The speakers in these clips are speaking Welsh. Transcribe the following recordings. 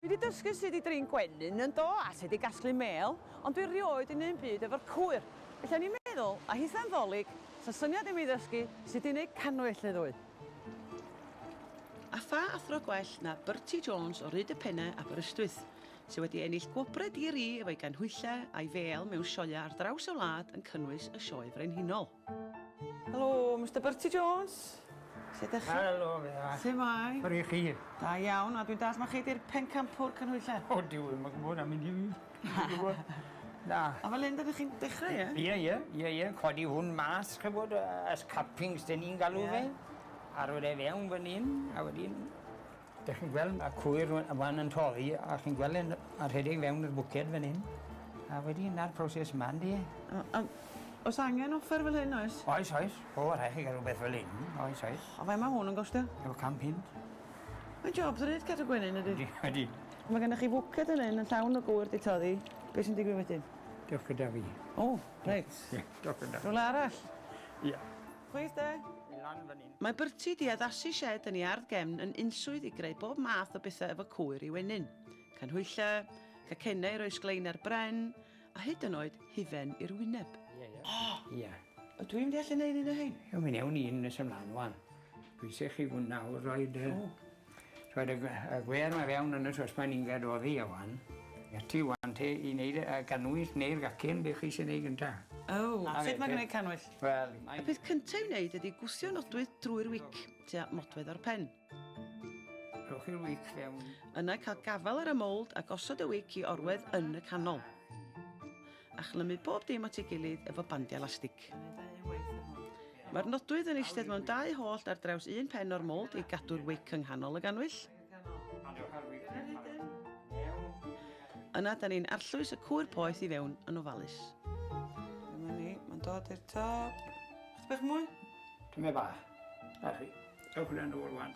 Dwi 'di dysgu sut i drin gwenyn, yndo, a sut i gasglu mêl, ond dwi 'rioed 'di neu'm byd efo'r cwyr, felly o'n i'n meddwl, a hitha'n 'Ddolig, 'sa syniad i mi ddysgu sut i neud cannwyll neu ddwy. A pha athro gwell na Bertie Jones o Rhyd y Penne, Aberystwyth, sy' wedi ennill gwobre di-ri efo'i ganhwyllau a'i fêl mewn sioeau ar draws y wlad yn cynnwys y Sioe Frenhinol. Helo, Mister Bertie Jones. Sut ydych chi? Helo, Fera. Sut mae? Yr i chi? Da iawn, a dwi'n dall mae chi di'r pencampwr cynhwylle. O, diw, ddim yn gwybod am mynd i fi. Na. A fel hyn, ydych chi'n dechrau, ie? Ie, ie, ie, ie. Codi hwn mas, chybod, as cappings, dyn ni'n galw fe. Arwydd e fewn fan hyn, a wedyn Dych chi'n gweld ma' cwyr ŵan yy ŵan yn torri a chi'n gwel' e'n a rhedeg fewn i'r bwced fan 'yn a wedyn 'na'r proses 'ma ynde? A a o's angen offer fel hyn oes? Oes oes. O rhai' chi ga'l rwbeth fel 'yn. Oes oes. A faint ma' hwn yn gostio? O can punt. Mae'n job dydi t- cadw gwenyn ydi? Ydi ydi. Ma' gynnoch chi fwced yn 'yn yn llawn o gŵyr 'di toddi be' sy'n digwydd wedyn? Dewch gyda fi. O reit. Ie dewch gyda fi. Rwle arall? Ia. Chwith de! I lan fan 'yn. Mae Bertie 'di addasu sied yn ei ardd gefn yn unswydd i greu bob math o bethau efo cwyr i'w ennyn. Canhwyllau, cacennau i roi sglein ar bren, a hyd yn oed hufen i'r wyneb. Ie, ie. O! Ie. Ydw i'n gallu neud un o hein? Ie, mi newn ni un nes ymlaen ŵan. Dwi isio chi fwynhau roid y... O! Rhoed y gwead mae fewn yn y sospan inged oddi a wan. Ati wan te i wneud y cannwyll neu'r gacen, be chi sy'n wneud gynta? O, a sut mae gwneud cannwyll? Wel, y peth cynta i'w wneud ydy gwthio nodwydd drwy'r wic, tua modfedd o'r pen. Rhowch chi'r wic fewn. Yna cael gafael ar y mould a gosod y wic i orwedd yn y canol. a chlymu bob dim at ei gilydd efo bandiau lastig. Mae'r nodwydd yn eistedd mewn dau hollt ar draws un pen o'r mold i gadw'r wic yng nghanol y ganwyll. Yna, da ni'n arllwys y cwyr poeth i fewn yn ofalus. Dyma ni, mae'n dod i'r top. Chdi bach mwy? Dyma ba. Da chi. Dewch yn ôl rwan.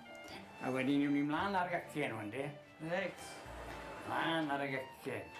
A wedyn ni'n mynd mlaen ar y gacen hwn, de? Reit. Mlaen ar y gacen.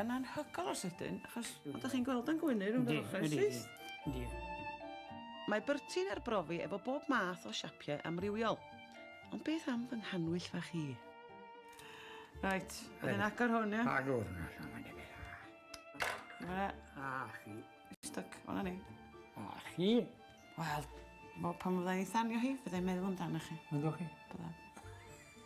Yn anhygoel o sydyn, achos fel dych chi'n gweld o'n gwenu rhwng yr ochrau syth. Yndi, yndi. Mae Bertie'n arbrofi efo bob math o siapiau amrywiol. Ond beth am fy nghanwyll fach i? Reit, wedyn agor hwn, ia? Agor hwn allan, mae'n dweud beth. Yma. A chi. Stuck, o'na ni. A chi. Wel, pan fyddai'n ei thanio hi, fyddai'n meddwl amdano chi. Ynddo chi? Bydda.